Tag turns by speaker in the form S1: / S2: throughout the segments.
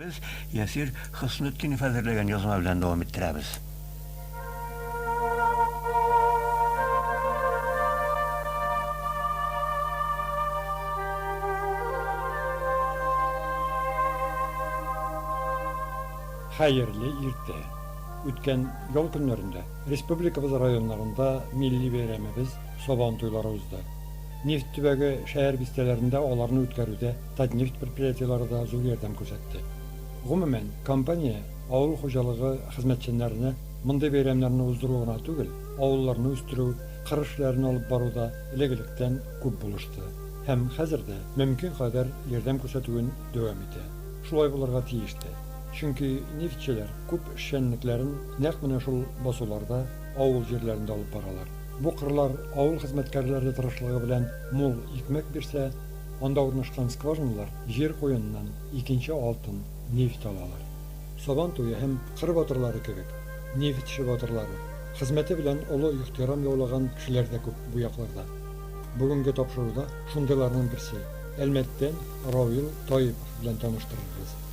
S1: Без Ясир Хөснетдинов әзерләгән язма белән дәвам иттерәбез.
S2: Хәерле иртә. Үткән ял көннәрендә Республикабыз районнарында милли бәйрәмебез, Сабан туйлары узды. Нефть төбәге шәһәр бистәләрендә аларны үткәрүдә Татнефть предприятиеләре дә зур ярдәм күрсәтте. Гомумән, компания авыл хуҗалыгы хезмәтчәннәренә мондый бәйрәмнәрне уздыру гына түгел, авылларны үстерү, кыр эшләрен алып баруда элек-электән күп булышты һәм хәзер дә мөмкин кадәр ярдәм күрсәтүен дәвам итә. Шулай булырга тиеш тә. Чөнки нефтьчеләр күп эшчәнлекләрен, Нәкъ менә шул басуларда авыл җирләрен дә алып баралар. Бу кырлар авыл хезмәткәрләре тырышлыгы белән мул икмәк бирсә, анда урнашкан скважиналар җир куеныннан икенче алтын, нефть алалар. Сабан туе һәм кыр батырлары кебек, нефтьче батырлары, хезмәте белән олы ихтирам яулаган кешеләр дә күп бу якларда. Бүгенге тапшыруда шундыйларның берсе, Әлмәттән Равил Таипов белән таныштырырбыз.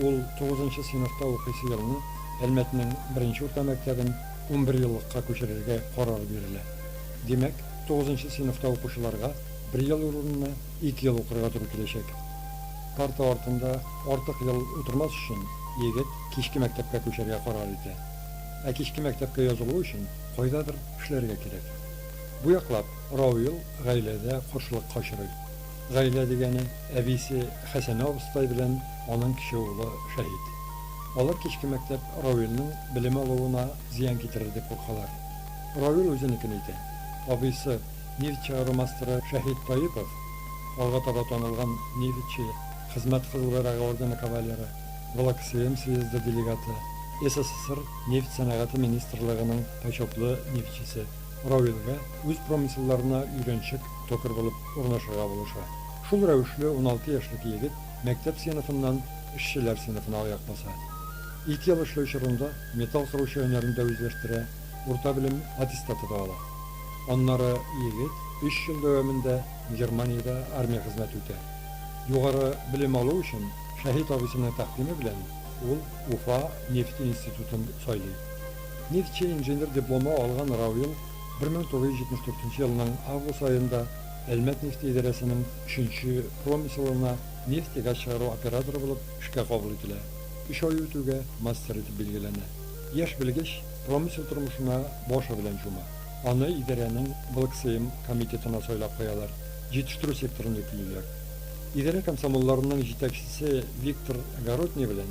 S2: Ул тугызынчы сыйныфта укыйсы елны Әлмәтнең беренче урта мәктәбен унберьеллыкка күчерергә карар бирелә. Димәк, тугызынчы сыйныфта укучыларга бер ел урынына ике ел укырга туры киләчәк. Парта артында артык ел утырмас өчен, егет кичке мәктәпкә күчәргә карар итә. Ә кичке мәктәпкә язылу өчен кайдадыр эшләргә кирәк. Бу яклап Рауил гаиләдә каршылыкка очрый. Гаилә дигәне, әбисе Хәсәнә абыстай белән аның кече улы Шәһит. Алар кичке мәктәп Равилнең белем алуына зыян китерер дип куркалар. Равил үзенекен әйтә. Абыйсы, нефть чыгару мастеры Шәһит Таипов, алга таба танылган нефтьче, Хезмәт Кызыл Байрагы ордены кавалеры, Волоксм съезды делегаты, СССР Нефть сәнәгате министрлыгының почетлы нефтьчесе. Равилгә үз промыселларына өйрәнчек, токарь булып урнашырга булыша. Шул рәвешле уналты яшьлек егет мәктәп сыйныфыннан эшчеләр сыйныфына аяк баса. Ике ел эшләү чорында металл кыручы һөнәрен дә үзләштерә, урта белем аттестаты да ала. Аннары егет өч ел дәвамында Германиядә армия хезмәте үтә. Югары белем алу өчен Шәһит абыйсының тәкъдиме белән ул Уфа нефть институтын сайлый. Нефтьче инженер дипломы алган Равил 1974 елның август аенда Әлмәт нефте идарәсенең өченче промыслына нефть-газ чыгару операторы булып эшкә кабул ителә. Өч ай үтүгә мастер итеп билгеләнә. Яшь белгеч промысел тормышына башы белән чума. Аны идарәнең БлкСэем комитетына сайлап куялар, җитештерү секторында көйлиләр. Идарә комсомолларының җитәкчесе Виктор Горотний белән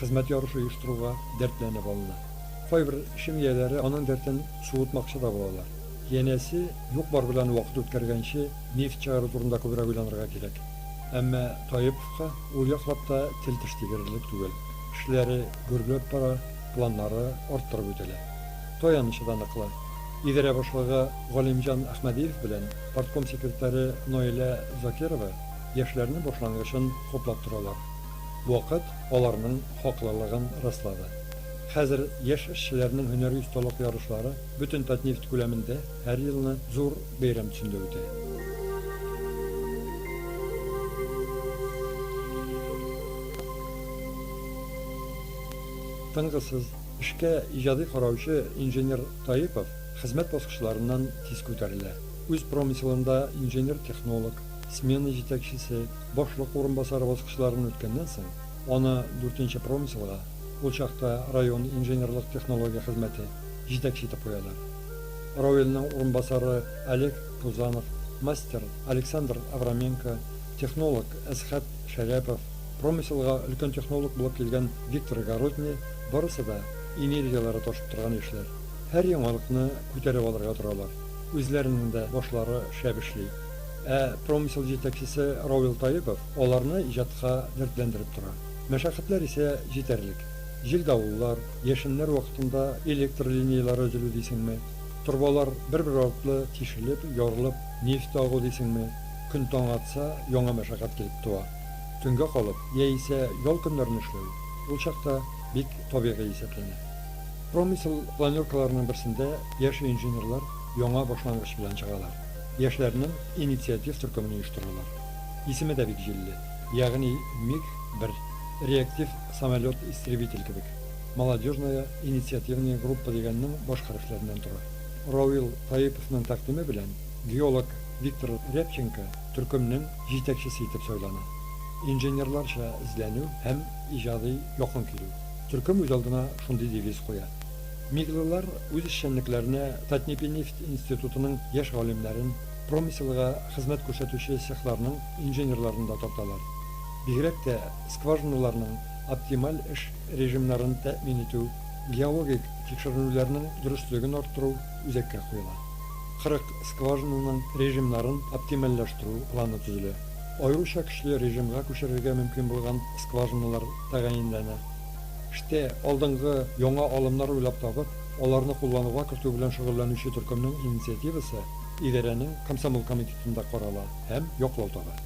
S2: хезмәт ярышы оештыруга дәртләнеп алына. Кайбер чим ияләре аның дәртен суытмакчы да булалар. Янәсе, юк-бар белән вакыт үткәргәнче, нефть чыгару турында күбрәк уйланырга кирәк. Әмма Таиповка ул яклап та тел-теш тигерерлек түгел. Эшләре гөрләп бара, планнары арттырып үтәлә. Таянычы да ныклы. Идарә башлыгы Галимҗан Әхмәдиев белән партком секретаре Наилә Закирова яшьләрнең башлангычын хуплап торалар. Вакыт. аларның хаклылыгын раслады. Хәзер яшь эшчеләрнең һөнәри осталык ярышлары бөтен Татнефть күләмендә һәр елны зур бәйрәм төсендә үтә. Тынгысыз, эшкә иҗади караучы инженер Таипов хезмәт баскычларыннан тиз күтәрелә. Үз промыселында инженер-технолог, смена җитәкчесе, Башлык урынбасары баскычларын үткәннән соң, аны дүртенче промыслга, ул чакта район инженерлык-технология хезмәте, җитәкче итеп куялар. Рауилнең урынбасары Олег Пузанов, мастер Александр Авраменко, технолог Әсхәт Шәрәпов, промыселга өлкән технолог булып килгән Виктор Городний, барысы да энергияләре ташып торган яшьләр. Һәр яңалыкны күтәреп алырга торалар. Үзләренең дә башлары шәп эшли. Ә промысел җитәкчесе Равил Таипов аларны иҗатка дәртләндереп тора. Мәшәкатьләр исә җитәрлек. Җил-давыллар, яшеннәр вакытында электр линияләре өзелү дисеңме, торбалар бер-бер артлы тишелеп, ярылып, нефть агу дисеңме, көн таң атса, яңа мәшәкать килеп туа. Төнгә калып яисә ял көннәрен эшләү ул чакта бик табигый исәпләнә. Промысел планеркаларының берсендә яшь инженерлар яңа башлангыч белән чыгалар. Яшьләрнең инициатив төркемен оештыралар. Исеме дә бик җилле, ягъни МиГ-1, реактив самолет-истребитель кебек. Молодежная инициативная группа дигәннең баш хәрефләреннән тора. Равил Таиповның тәкъдиме белән геолог Виктор Рябченко төркемнең җитәкчесе итеп сайлана. Инженерларча эзләнү һәм иҗади якын килү. Төркем үзалдына шундый девиз куя. Миглылар үз эшчәнлекләренә Татнепинефть институтының яшь галимнәрен, промыселга хезмәт күрсәтүче цехларның инженерларын да тарталар. Бигрәк тә скважиналарның оптималь эш режимнарын тәэмин итү, геологик тикшеренүләрнең дөреслеген арттыру үзәккә куела. 40 скважинаның режимнарын оптимальләштерү планы төзелә. Аеруча көчле режимга күчерергә мөмкин булган скважиналар тәгаенләнә. Эштә, алдынгы, яңа алымнар уйлап табып, аларны куллануга кертү белән шөгыльләнүче төркемнең инициативасы идарәнең комсомол комитетында карала һәм яклау таба.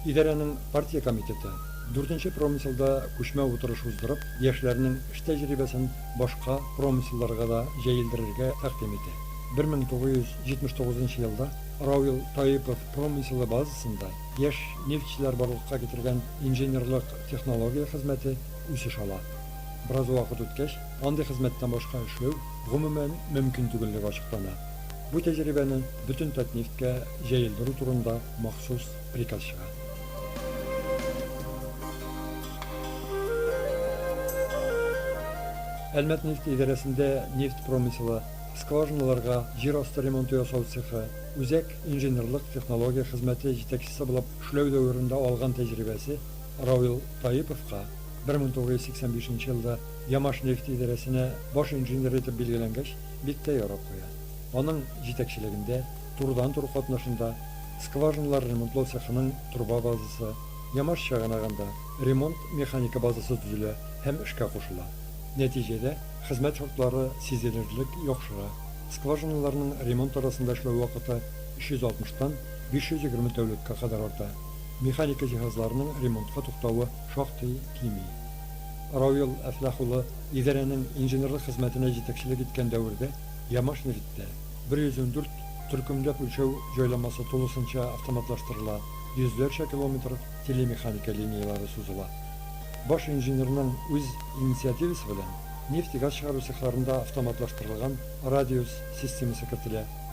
S2: Идарәнең партия комитеты, дүртенче промыселда күчмә утырыш уздырып, яшьләрнең эш тәҗрибәсен башка промыселларга да җәелдерергә тәкъдим итә. Бер мең тугыз йөз җитмеш тугызынчы елда Равил Таипов промыселы базасында яшь нефтьчеләр барлыкка китергән инженерлык Технология хезмәте үсеш ала. Бераз вакыт үткәч, андый хезмәттән башка эшләү гомумән мөмкин түгеллеге ачыклана. Бу тәҗрибәне бөтен Татнефтькә җәелдерү турында махсус приказ чыга. Әлмәтнефть идарәсендә нефть промыселы, скважиналарга җир асты ремонты ясау цехы, үзәк инженерлык технология хезмәте җитәкчесе булып эшләү дәверендә алган тәҗрибәсе Равил Таиповка 1985 нче елда Ямашнефть идарәсенә баш инженер итеп билгеләнгәч, бик тә ярап куя. Аның җитәкчелегендә, турыдан-туры катнашында, скважиналар ремонтлау цехының труба базасы, Ямаш чыганагында ремонт-механика базасы төзелә һәм эшкә кушыла. Нәтиҗәдә, хезмәт шартлары сизелерлек яхшыра, скважиналарның ремонт арасында эшләү вакыты 360 тан 520 тәүлеккә кадәр арта. механика җиһазларының ремонтка туктавы шактый кими. Равил Әфлах улы идарәнең инженерлык хезмәтенә җитәкчелек иткән дәвердә Ямашнефтьтә 114 төркемләп үлчәү җайламасы тулысынча автоматлаштырыла, йөзләрчә километр телемеханика линияләре сузыла. Баш инженерның үз инициативасы белән нефть-газ чыгару цехларында автоматлаштырылган радиус системасы кертелә.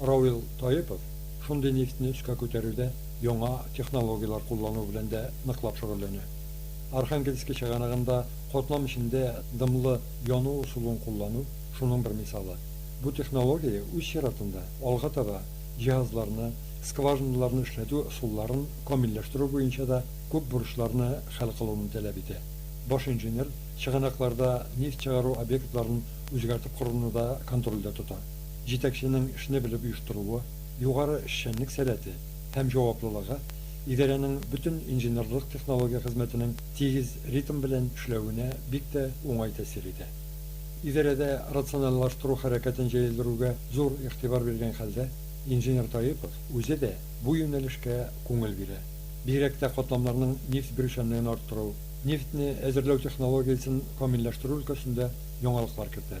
S2: Равил Таипов шундый нефтьне өскә күтәрүдә яңа технологияләр куллану белән дә ныклап шөгыльләнә. Архангельски чыганагында катлам эчендә дымлы яну ысулын куллану шуның бер мисалы. Бу технология, үз чиратында, алга таба җиһазларны, скважиналарны эшләтү ысулларын камилләштерү буенча да күп бурычларны хәл кылуны таләп итә. Баш инженер чыганакларда нефть чыгару объектларын үзгәртеп коруны да контрольдә тота. җитәкченең эшне белеп оештыруы, югары эшчәнлек сәләте һәм җаваплылыгы идарәнең бөтен инженерлык технология хезмәтенең тигез ритм белән эшләвенә бик тә уңай тәэсир итә. Идарәдә рациональлаштыру хәрәкәтен җәелдерүгә зур игътибар биргән хәлдә, инженер Таипов үзе дә бу юнәлешкә күңел бирә. Бигрәк тә катламнарның нефть берүчәнлеген арттыру, нефтьне әзерләү технологиясен камилләштерү өлкәсендә яңалыклар кертә.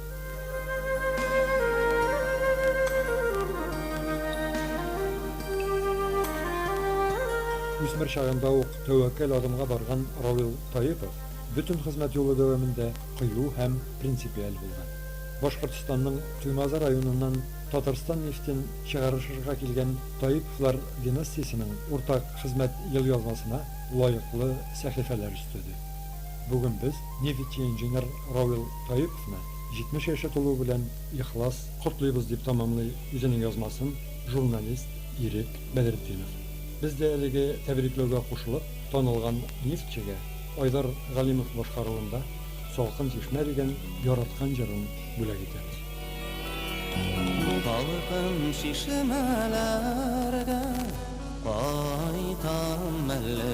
S2: Үсмер чагында ук тәвәккәл адымга барган Равил Таипов бөтен хезмәт юлы дәвамында кыю һәм принципиаль булган. Башкортстанның Туймазы районыннан Татарстан нефтен чыгарышырга килгән Таиповлар династиясенең уртак хезмәт елъязмасына лаеклы сәхифәләр өстәде. Бүген без нефтьинженер Равил Таиповны 70 яше тулуы белән ихлас котлыйбыз, дип тәмамлый үзенең язмасын журналист Ирек Бәдретдинов. Без дә әлеге тәбрикләүгә кушылып, танылган нефтьчегә Айдар Галимов башкаруында Салкын чишмә дигән яраткан җырын бүләк итәбез. Салкын
S3: чишмәләргә кайтам әле.